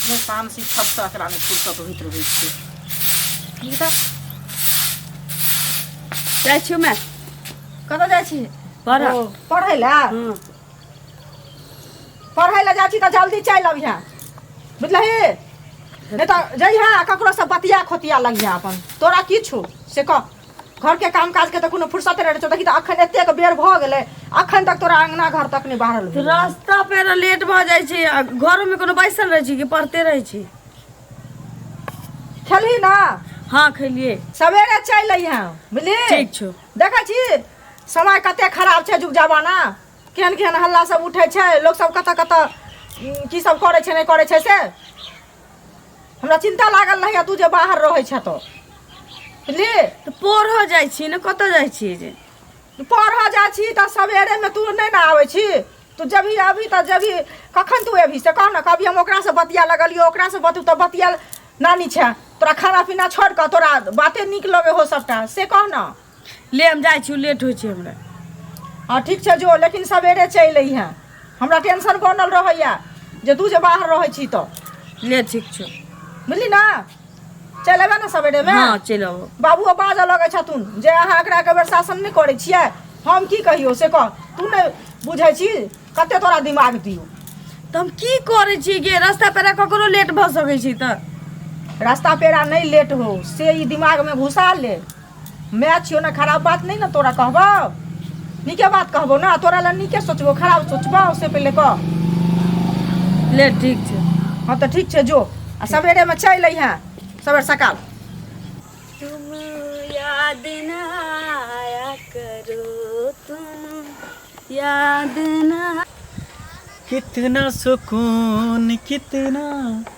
नहि तामसी फटसँ एकरामे फुर्सत होइत रहै छै की तऽ जाइ छियौ माय कतऽ जाइ छी पढ़ऽ। ओ, पढ़ै लए हँ पढ़ै लए जाइ छी तऽ जल्दी चलि अबिहे बुझलही नहि तऽ जइहे आ ककरोसँ बतिया खोतिया लगिहे अपन तोरा की छौ से कह घरके कामकाजके तऽ कोनो फुर्सत रहै छौ देखी तऽ अखन एतेक बेर भऽ गेलै अखन तक तोरा अङ्गना घर तक नहि बाहरल भेलौ। रास्ता पेरा लेट भऽ जाइ छै आ घरोमे कोनो बैसल रहै छी कि पढ़ते रहै छी खेलही ना हँ खेलिए सवेरे चलि अइहेँ बुझली ठीक छौ देखै छी समय कते खराब छै जुग जमाना केहन केहन हल्ला सब उठै छै लोक सब कतऽ कतऽ उम, की सब करै छै नहि करै छै से हमरा चिंता लागल रहैया तू जे बाहर रहै छ तो बुझली तऽ पढ़ऽ जाइ छी ने कतऽ जाइ छी जे तू पढ़ऽ जा छी तऽ सवेरेमे तू नहि ने आबै छी तू जभी अभी तऽ जभी कखन तू अभी से कह ने कभी हम ओकरासँ बतिया लगलियो ओकरासँ बतू तऽ बतिया नानी छै तोरा खाना पीना छोड़ कऽ तोरा बाते नीक लगे हो सबटा से कह ने ले हम जाइ छी लेट होइ छै हमरा हँ ठीक छै जो लेकिन सवेरे चलि अइहे हमरा टेंशन बनल रहैए जे तू जे बाहर रहै छी तऽ ले ठीक छौ बुझली ने चलि अयबै ने सवेरेमे हँ चलि अबो बाबुओ बाजऽ लगै छथुन जे अहाँ एकरा एक बेर शासन नहि करै छियै हम की कहियौ से कह तू नहि बुझै छी कते तोरा दिमाग दियौ तऽ हम की करै छी गे रास्ता पेरा ककरो लेट भऽ सकै छी तऽ रास्ता पेरा नहि लेट हो से ई दिमागमे घुसा ले माय छियो ने खराब बात नहीं ना तोरा कहबो नीके बात कहबो ना तोरा ला नीके सोचबो खराब सोचबो उससे पहले कह ले ठीक छै हाँ तो ठीक छै जो आ सवेरे में चल अइहा सवेर सकाल तुम याद ना आया करो तुम याद ना कितना सुकून कितना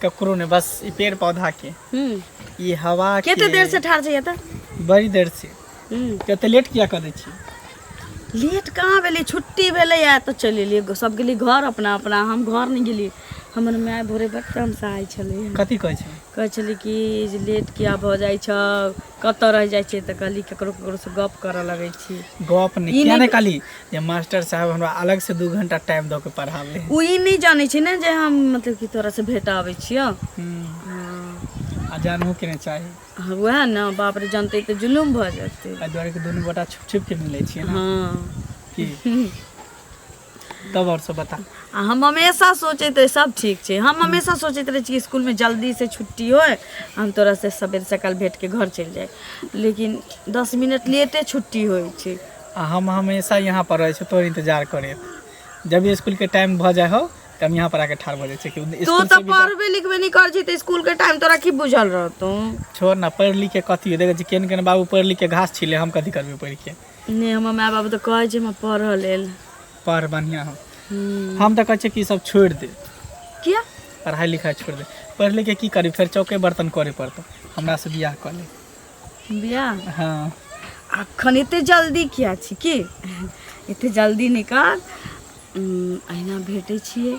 ककरो ने बस ई पेड़ पौधा के हम्म ई हवा के केते देर से ठाड़ छै एतऽ बड़ी देर से हम्म तऽ एते लेट किया कऽ दै छी लेट कहाँ भेलै छुट्टी भेलै आ तऽ चलि एलियै सब गेलियै घर अपना अपना हम घर नहि गेलियै हमर माय भोरे बड़ तमसाइ छलै कथी कहै छी कहै छलै कि जे लेट किया भऽ जाइ छौ कतऽ रहि जाइ छियै तऽ कहली ककरो ककरो से गप करऽ लगै छी गप नहि ई किया नहि- नहि कहली जे मास्टर साहब हमरा अलग से दू घंटा टाइम दऽ के पढ़ाबे है ओ ई नहि जानै छै ने जे हम मतलब कि तोरा से भेटऽ आबै छियौ हम्म, हँ आ जानहो के नहि चाही हँ, वएह ने बाप रे जानते तऽ जुलूम भऽ जेतै एहि दुआरे कि दुनू गोटा छुप छुप के मिलै छियै ने हँ की तब और सब बता आ हम हमेशा सोचैत रही सब ठीक छै हम हमेशा सोचैत रही कि स्कूल में जल्दी से छुट्टी होय हम तोरा से सवेरे सकाल भेट के घर चलि जाए लेकिन दस मिनट लेटे छुट्टी होय छै आ हम हमेशा यहाँ पर रहे तोर इंतजार करे जब भी स्कूल के टाइम भ जाए हो त हम यहाँ पर आके ठाड़ भ जाए छी कि तू स्कूल तो से भी जा- पढ़बे लिखबे नहीं कर छी तो स्कूल के टाइम तोरा की बुझल रहतौ छोड़ ना पढ़ लिख के कथी हो देखे छी केन केन बाबू पढ़ लिख के घास छिले हम कथी करबे पढ़ के नहि हमर माय बाबू तऽ कहै छै हमर पढ़ऽ लेल पढ़ बढ़िआँ हम हम्म, हम तऽ कहै छियै कि ई सब छोड़ि दे किया पढ़ाइ लिखाइ छोड़ि दे पढ़ि लिख के की करी फेर चौके बर्तन करे पड़तौ हमरा से बियाह कऽ ले बियाह हँ अखन एते जल्दी किया छी की एते जल्दी नहि कर उम, अहिना भेटै छियै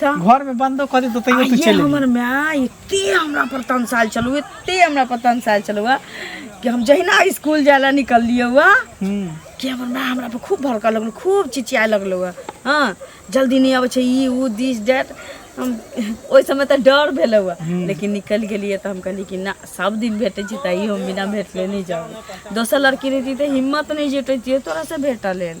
तऽ घर में बंदो कर देतो तैयो तू आइए चल हमर माय एते हमरा पर तनसाल चलू एते हमरा पर तनसाल चलू हुआ कि हम जहिना स्कूल जाय ला निकललिए हुआ हम्म कि हमर माय हमरा पर खूब भड़कऽ लगलू खूब चिचियाए लगलू हुआ हाँ जल्दी नहीं आबै छै ई उ दिस दैट हम ओहि समय तऽ डर भेल हुआ लेकिन निकलि गेलिए तऽ हम कहलिए कि ना सब दिन भेटै छै तैयो हम बिना भेटले नहि जाउ दोसर लड़की रहिती तऽ हिम्मत नहि जुटैतिए तोरा से भेटऽ लेल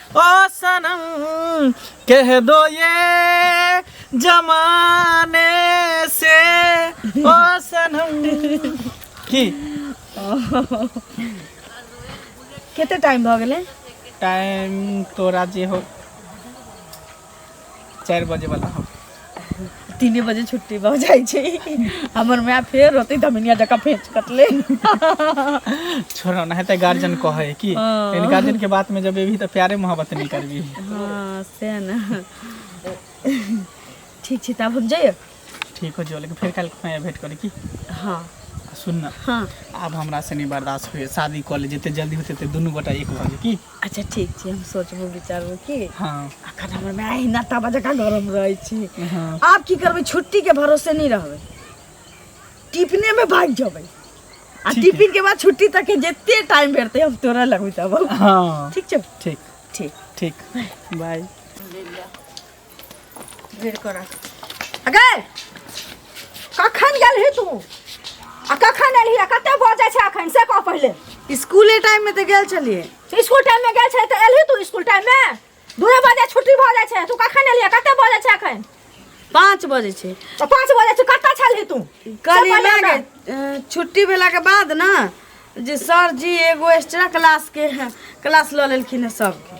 ओ सनम कह दो ये जमाने से ओ सनम की कते टाइम भऽ गेलै टाइम तोरा जे हो चारि बजे वाला हम तीने बजे छुट्टी भऽ जाइ छै हमर माय फेर होतै धमिनिया जकाँ फेंच कटले छोड़ो ना हेतै गार्जियन कहै है कि हाँ। लेकिन गार्जियन के बात में जब एबही तऽ प्यारे मोहब्बत नहीं करबी हँ सएह ने ठीक छै तऽ आब हम जइयै ठीक हो जो लेकिन फिर कल खुआए भेंट करे की हाँ आ सुन ना हाँ आब हमरा से नहीं बर्दाश्त होइए शादी कऽ ले जते जल्दी होते ते दुनू गोटा एक भऽ जाए की अच्छा ठीक छै हम सोचबो विचारबो की हाँ अखन हमर माय अहिना ताबा जकाँ घरमे रहै छी हाँ आब की करबै छुट्टी के भरोसे नहीं रहबै टिफिने में भाग जेबै आ ठीक है। टिफिन के बाद छुट्टी तक के जते टाइम भेटतै हम तोरा लगबै तब हाँ ठीक छौ ठीक ठीक ठीक बाय भरि कर अगे कखन गेल ही तू आ कखन एलही आ कते भऽ जाइ छै अखन से कह पहिले स्कूले टाइम में तो गेल चलिए स्कूल टाइम में गेल छै तऽ एलही तू स्कूल टाइम में दूए बजे छुट्टी भऽ जाइ छै तू कखन एलही आ कते भऽ जाइ छै अखन पाँच बजे छै तऽ पाँच बजे तू कतऽ छलही तू कल से पहिले इलाके, हमरा- अ, छुट्टी भेला के बाद ना जे सर जी एगो एक्स्ट्रा क्लास के क्लास लऽ लेलखिन है सबके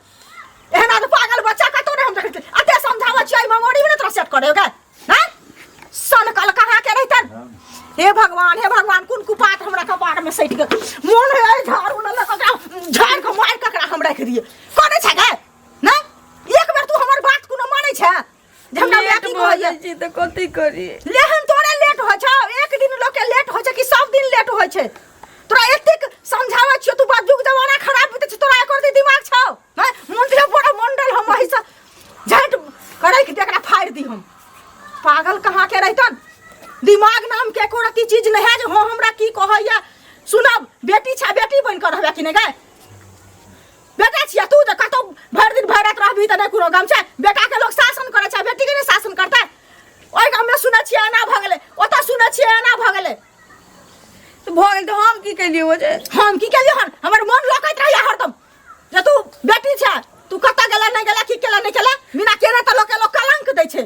एहन आदमी पागल बच्चा कतौ ने हम देखै छी। अते समझाबै छियै मेमोरी में तोरा सेट करे ओके हैं सन कल कहाँ के रहतन हे भगवान हे भगवान कुन कुपात हमरा कपार में सटि गेल मोन है ऐ झाड़ू ले लऽ ककरा झाड़ के मार ककरा हम राखि दिए करै छै गे नै एक बेर तू हमर बात कोनो मानै छै झमटा हमरा की कहैया छी त कथि करी लेहन तोरे लेट हो छ एक दिन लोग के लेट हो छ कि सब दिन लेट हो छ तोरा एतेक समझावा छियो तू बात जुग जमाना खराब होते छ तोरा एकर दी दिमाग छ हैं मुंडिया बड़ा मंडल हम वही से झट करे कि एकरा फाड़ दी हम पागल कहाँ के रहतन दिमाग नाम के एको रति चीज नहीं है जो हो हमरा की कहैया सुनब बेटी छा बेटी बन कर रहबे कि नहीं गए बेटा छियै तू तऽ कतौ भरि दिन भरि राति रहबही तऽ नहि कोनो गम छै बेटाके लोक शासन करै छै बेटीके नहि शासन करतै ओहि गाममे सुनै छियै एना भऽ गेलै ओतऽ सुनै छियै एना भऽ गेलै तऽ भऽ गेल तऽ हम की केलियै ओ जे हम की केलियै हन हमर मोन लकैत रहैया हरदम जे तू बेटी छै तू कतऽ गेला नहि गेला की केला नहि केला बिना केने तऽ लोकके लोक कलंक दै छै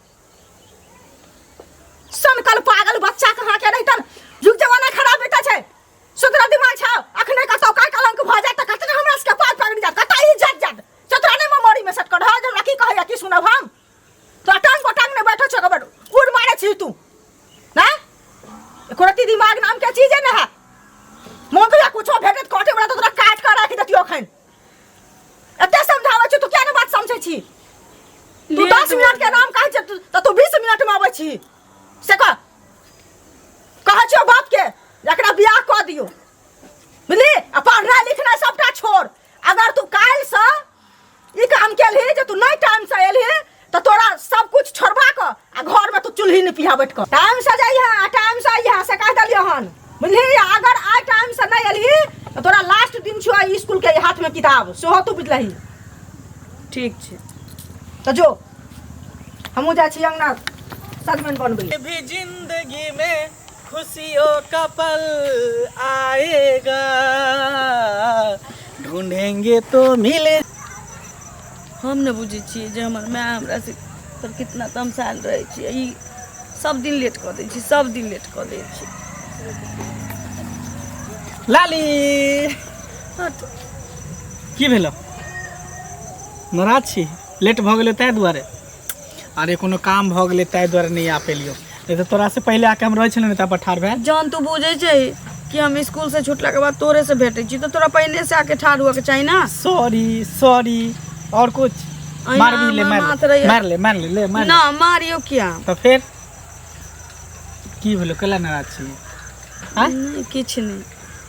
सनकल पागल बच्चा कहाँ के रही तन युग जमाना खराब बीता छै सुधरा दिमाग छौ अखने कतौ का कलंक भ जात त कतना हमरा सबके पार पकड़ि जात कतई इज्जत जात चतराने में मरी में सटकड़ हा जब की कहैया की सुनब हम तो टांग पटांग ने बैठो छ कबर उड़ मारे छी तू ना एको रति दिमाग नाम के चीजे ना है मोकला कुछो भेटत काटे वाला तो तोरा काट कर राखि देतियो अखन एते समझाबै छी तू किया ने बात समझै छी तू लेट 10 मिनट के भऽ नाम कहै छै तू- तऽ तू 20 मिनट में आबै छी से कह कहै छियो बाप के जे एकरा बियाह कऽ दियो बुझली आ पढ़नाइ लिखनाइ सबटा छोड़ अगर तू काल्हि से ई काम केलही जे तू नहि टाइम से एलही तो तोरा सब कुछ छोड़बा क आ घर में तू चूल्ही नहीं पिहा बैठ कर टाइम से जाइए आ टाइम से आइए से कह दलियो हन बुझली अगर आ टाइम से नहीं अली तो तोरा लास्ट दिन छुआ स्कूल के हाथ में किताब सेहो तू बुझलही ठीक छै तो जो हमू जा छी अंगना सजमन बनबै भी जिंदगी में खुशियों का पल आएगा ढूंढेंगे तो मिले हम ने बुझे छे जे हमर माय हमरा से पर कितना तमसाल रहे छे ई सब दिन लेट कर दे छी सब दिन लेट कर दे छी लाली हट की भेलो नाराज छी लेट भऽ गेलै ताहि दुआरे अरे कोनो काम भऽ गेलै ताहि दुआरे नहि आ पेलियौ नहि तऽ तोरासँ पहिले आके हम रहै छलहुँ ने तापर ठाढ़ भए जहन तू बुझै छै कि हम स्कूल से छुटला के बाद तोरे से भेटे छी तो तोरा पहिने से आके ठाढ़ हुआ के चाहिए ना सॉरी सॉरी और कुछ अहिना मार भी ले हमर मार माथ ले रहैया। मार ले मार ले ले मार ले। ना मारियो क्या तऽ फेर की भेलो कैला नाराज छी आँय? नहीं किछ नहीं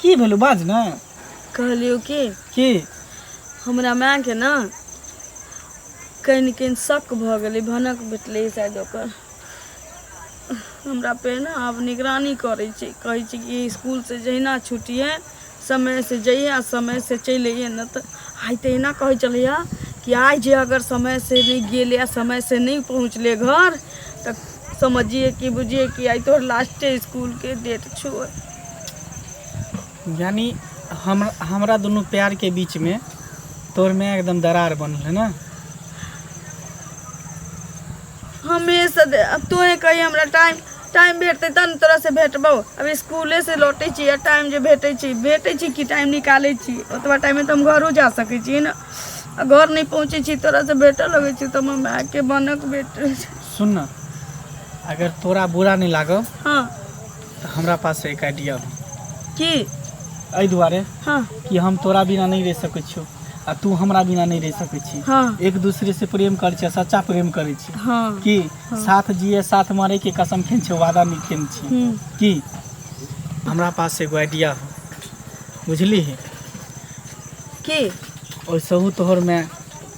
की भेलौ बाज ने कहलियौ कि की हमरा मायके ने कहीं ने कहीं शक भऽ गेलै भनक भेटलै शायद ओकर हमरा पे ने आब निगरानी करै छै कहै छै कि इसकुलसँ जहिना छुटिए समयसँ जइए आ समयसँ चलि अइए नहि तऽ आइ तहिना कहै छलैए कि आइ जे अगर समयसँ नहि गेलै आ समयसँ नहि पहुँचलै घर तऽ समझिए कि बुझिए कि आई तोहर लास्टे स्कूल के डेट छो यानी हम हमरा दोनों प्यार के बीच में तोर में एकदम दरार बनल है ना हमेशा दे- अब तोहे कही हमरा टाइम टाइम भेटतै तब ने तोरा से भेटबौ अब स्कूले से लौटै छी आ टाइम जे भेटै छी भेटै छी कि टाइम निकालै छी ओतबा टाइममे तऽ हम घरो जा सकै छी ने आ घर नहि पहुँचै छी तोरा से भेटऽ लगै छी तऽ हम मायके बनक भेटै छी सुन ना अगर तोरा बुरा नहि लागो हाँ तऽ हमरा पास एक आइडिया बा की एहि दुआरे हाँ कि हम तोरा बिना नहि रहि सकै छियो आ तू हमरा बिना नहि रहि सकै छी हाँ एक दूसरे से प्रेम करै छियै सच्चा प्रेम करै छियै हाँ की साथ जिए साथ मरे के कसम खेन छै वादा नहि खेन छी हम्म, की हमरा पास एगो आइडिया हो बुझली की ओहिसँ तोहर में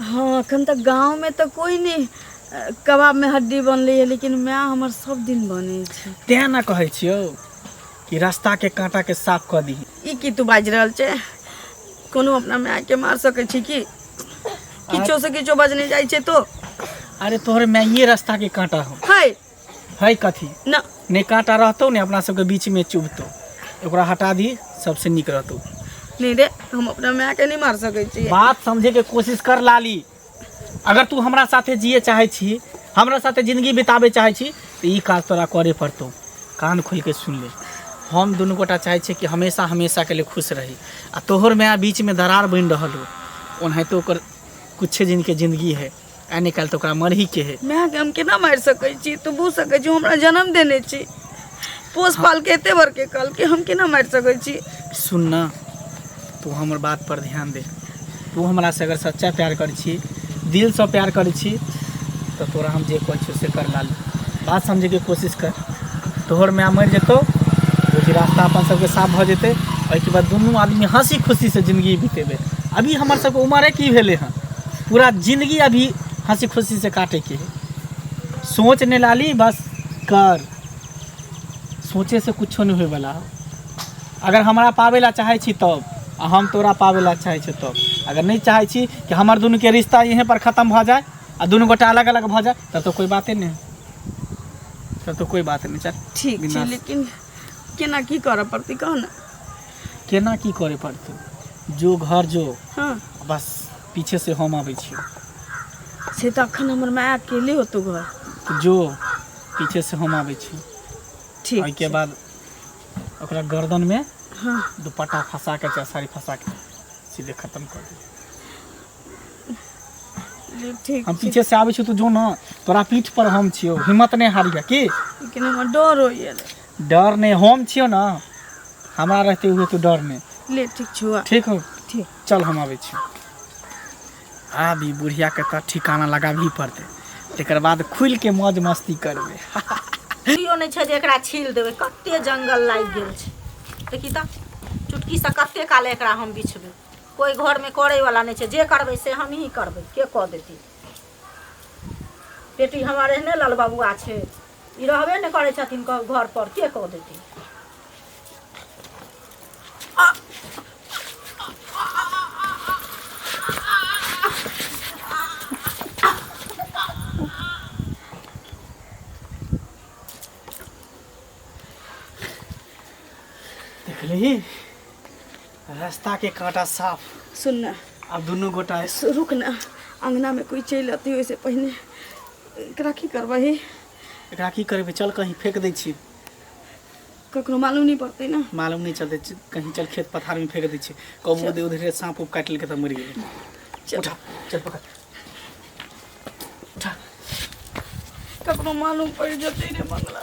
हँ एखन तऽ गाँवमे तऽ कोइ नहि अ, कबाबमे हड्डी बनलै है लेकिन माय हमर सब दिन बनै छै तें ना कहै छियौ कि रास्ता के कांटा के साफ कऽ दी ई की तू बाजि रहल छै कोनो अपना मायके मार सकै छी की किछो से किछो बजने जाइ छै तो अरे तोहरे माइये रास्ता के कांटा हो है है कथी ना नहि काँटा रहतौ ने अपना सबके बीचमे चुभतौ ओकरा हटा दी सबसे नीक रहतौ नहीं रे हम अपना माय के नहीं मार सके छी बात समझे के कोशिश कर लाली अगर तू हमरा साथे जिए चाहे छी हमरा साथे जिंदगी बिताबे चाहे छी तो ई काज तोरा करे पड़तौ कान खोल के सुन ले हम दुनू गोटा चाहे छी कि हमेशा हमेशा के लिए खुश रही आ तोहर माया बीच में दरार बन रहल हो ओनाहितो ओकर कुछ दिन के जिंदगी है आइ नहि काल्हि तऽ ओकरा मरहीके हे मायके हम केना मारि सकै छी तू बुझ सकै छी हमरा जन्म देने छी पोस पाल के एते बड़के कल के हम केना मारि सकै छी सुन ना तू हमर बात पर ध्यान दे तू हमरा से अगर सच्चा प्यार कर छी दिल से प्यार कर छी तो तोरा हम जे कह से कर लाल बात समझे के कोशिश कर तोहर माय मर जेतो रोजी रास्ता अपन सबके साफ भ जेते ओहिके बाद दुनू आदमी हंसी खुशी से जिंदगी बीतेबे अभी हमर सबके उम्र की भेले हैं पूरा जिंदगी अभी हंसी खुशी से काटे के है। सोच ने लाली बस कर सोचे से कुछो नहीं होए वाला है। अगर हमरा पावे ला चाहे छी तब आ हम तोरा पावे ला चाहे छी तब अगर नहीं चाहे छी कि हमर दुनू के रिश्ता यहीं पर खत्म भ जाए आ दुनू गोटा अलग अलग भ जाए तब तो कोई बाते नहीं तब तो कोई बात नहीं चल ठीक छै बिना- लेकिन केना की करऽ पड़तै कहऽ ने केना की करय पड़तै जो घर जो हँ बस पीछे से हम आबै छी से तऽ अखन हमर माय अकेले होतो घर तऽ जो पीछे से हम आबै छी ठीक ओहिके छै। बाद ओकरा गर्दनमे हँ दुपट्टा फँसा कऽ चाहे साड़ी फँसा कऽ सीधे खतम कऽ दे ले, ठीक हम छै पीछे से आबै छी तू जो ने तोरा पीठ पर हम छियौ हिम्मत नहि हारिया की लेकिन हमर डर होइए डर नहीं हम छियो ना हमरा रहते हुए तू डर नहीं ले ठीक छुआ ठीक हो ठीक चल हम आबे छी आब ई बुढ़िया के तो ठिकाना लगाबही पड़ते तकर बाद खुल के मौज मस्ती करबे कियो नहीं छै जे एकरा छील देबे कते जंगल लागि गेल छै देखी तऽ चुटकी से कते काल एकरा हम बिछबे कोई घर में करे वाला नहीं छै जे करबे से हम ही करबे के कऽ देती बेटी हमर एहने लाल बबुआ छै ई रहबे नहि करै छथिन कब घर पर के कह देथिन देखली रास्ता के कांटा साफ सुन ना अब दुनू गोटा सु- रुक ना अंगना में कोई चलि अती ओहिसे पहिने एकरा की करबही एकरा की करबे चल कहीं फेंक दै छी ककरो मालूम नहीं पड़ते ना मालूम नहीं चलते च- कहीं चल खेत पथार में फेंक दै छी कब उधर उधर सांप उप काट लेके तब मर गेल चल। उठा चल पकड़ उठा ककरो मालूम पड़ जते रे मंगला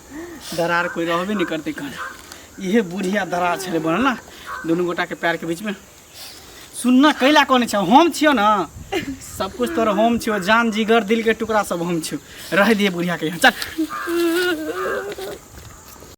दरार कोई रहबे नहीं करते कन इहे बुढ़िया दरार छे बनल ना दुनू गोटा के पैर के बीच में सुनना कैला कौन छे हम छियो ना सब कुछ तोर हम छियो जान जिगर दिल के टुकड़ा सब हम छियो रह दिए बुढ़िया के यहाँ चल